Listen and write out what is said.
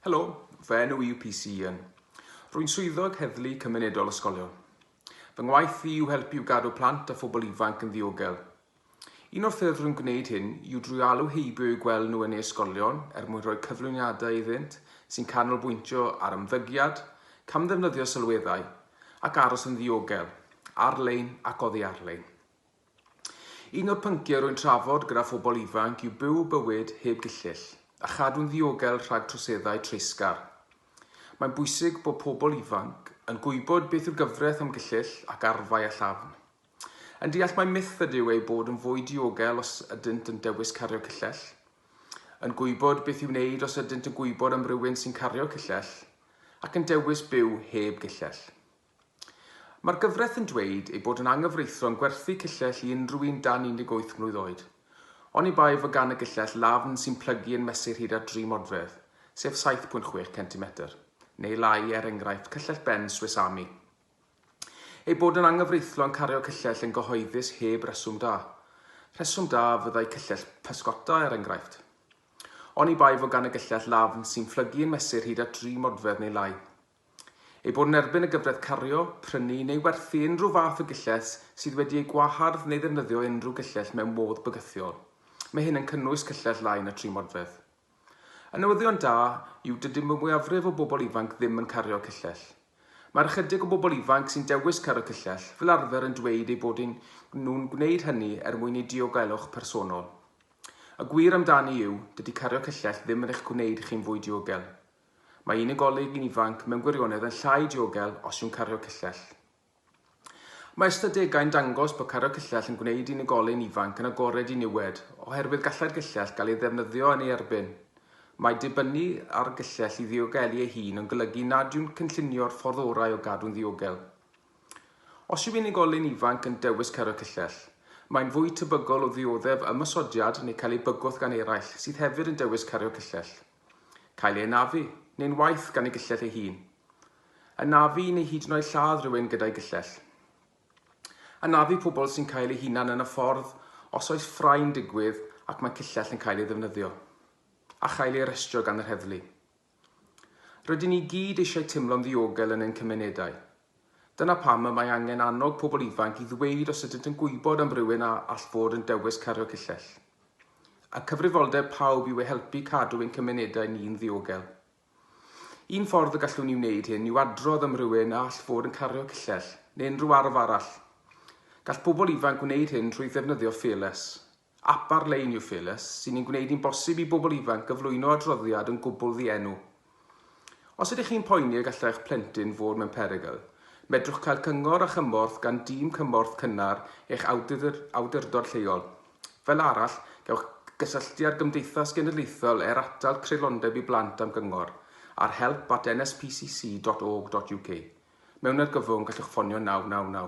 Helo, fy enw i yw PC Ian. Rwy'n swyddog heddlu cymunedol ysgolion. Fy ngwaith i yw helpu i'w gadw plant a phobl ifanc yn ddiogel. Un o'r ffyrdd rwy'n gwneud hyn yw drwy alw heibio i'w gweld nhw yn ei ysgolion er mwyn rhoi cyflwyniadau iddynt sy'n canolbwyntio ar ymddygiad, camddefnyddio sylweddau ac aros yn ddiogel, ar-lein ac oddi ar-lein. Un o'r pynciau rwy'n trafod gyda phobl ifanc yw byw bywyd heb gyllyll a chadw'n ddiogel rhag troseddau treisgar. Mae'n bwysig bod pobl ifanc yn gwybod beth yw'r gyfraith am gyllyll ac arfau a llafn. Yn deall mai myth ydyw eu bod yn fwy diogel os ydynt yn dewis cario cyllell. Yn gwybod beth i'w wneud os ydynt yn gwybod am rywun sy'n cario cyllell ac yn dewis byw heb gyllell. Mae'r gyfraith yn dweud ei bod yn anghyfreithlon gwerthu cyllell i unrhyw un dan 18 mlwydd oed. Oni bai fod gan y gyllell lafn sy'n plygu yn mesur hyd at dri modfedd, sef 7.6 centimetr, neu lai, er enghraifft, cyllell ben Swiss Army. Ei bod yn anghyfreithlon cario cyllell yn gyhoeddus heb reswm da. Rheswm da fyddai cyllell pysgota, er enghraifft. Oni bai fod gan y gyllell lafn sy'n phlygu yn mesur hyd at dri modfedd neu lai. Ei bod yn erbyn y gyfraith cario, prynu neu werthu unrhyw fath o gillell sydd wedi ei gwahardd neu ddefnyddio unrhyw gillell mewn modd bygythiol. Mae hyn yn cynnwys cyllell lai na tri modfedd. Y newyddion da yw dydy mwyafrif o bobl ifanc ddim yn cario cyllell. Mae'r ychydig o bobl ifanc sy'n dewis cario cyllell fel arfer yn dweud eu bod nhw'n gwneud hynny er mwyn eu diogelwch personol. Y gwir amdani yw, dydy cario cyllell ddim yn eich gwneud chi'n fwy diogel. Mae unigolyn ifanc mewn gwirionedd yn llai diogel os yw'n cario cyllell. Mae ystadegau'n dangos bod cario cyllell yn gwneud unigolyn ifanc yn agored i niwed oherwydd gallai'r gyllell gael ei ddefnyddio yn ei erbyn. Mae dibynnu ar gyllell i ddiogelu ei hun yn golygu nad yw'n cynllunio'r ffordd orau o gadw'n ddiogel. Os yw unigolyn ifanc yn dewis cario cyllell, mae'n fwy tebygol o ddioddef ymosodiad neu cael ei bygwth gan eraill sydd hefyd yn dewis cario cyllell. Cael ei anafu, neu'n waeth, gan ei gyllell ei hun. Anafu neu hyd yn oed lladd rhywun gyda'i gyllell. Anafu pobl sy'n cael eu hunan yn y ffordd os oes ffrae'n digwydd ac mae cyllell yn cael ei ddefnyddio. A chael ei arestio gan yr heddlu. Rydyn ni gyd eisiau teimlo'n ddiogel yn ein cymunedau. Dyna pam y mae angen annog pobl ifanc i ddweud os ydynt yn gwybod am rywun a all fod yn dewis cario cyllell. Y cyfrifoldeb pawb yw eu helpu i cadw ein cymunedau ni'n ddiogel. Un ffordd y gallwn ni wneud hyn yw adrodd am rywun a all fod yn cario cyllell, neu unrhyw arf arall. Gall pobl ifanc wneud hyn trwy ddefnyddio Fearless, Ap ar-lein yw Felus, sy'n ein gwneud hi'n bosib i bobl ifanc gyflwyno adroddiad yn gwbl ddienw. Os ydych chi'n poeni y gallai eich plentyn fod mewn perygl, medrwch cael cyngor a chymorth gan dîm cymorth cynnar eich awdurdod lleol. Fel arall, gewch gysylltu â'r Gymdeithas Genedlaethol er Atal Creulondeb i Blant am gyngor ar help at nspcc.org.uk. Mewn argyfwng, gallwch ffonio 999.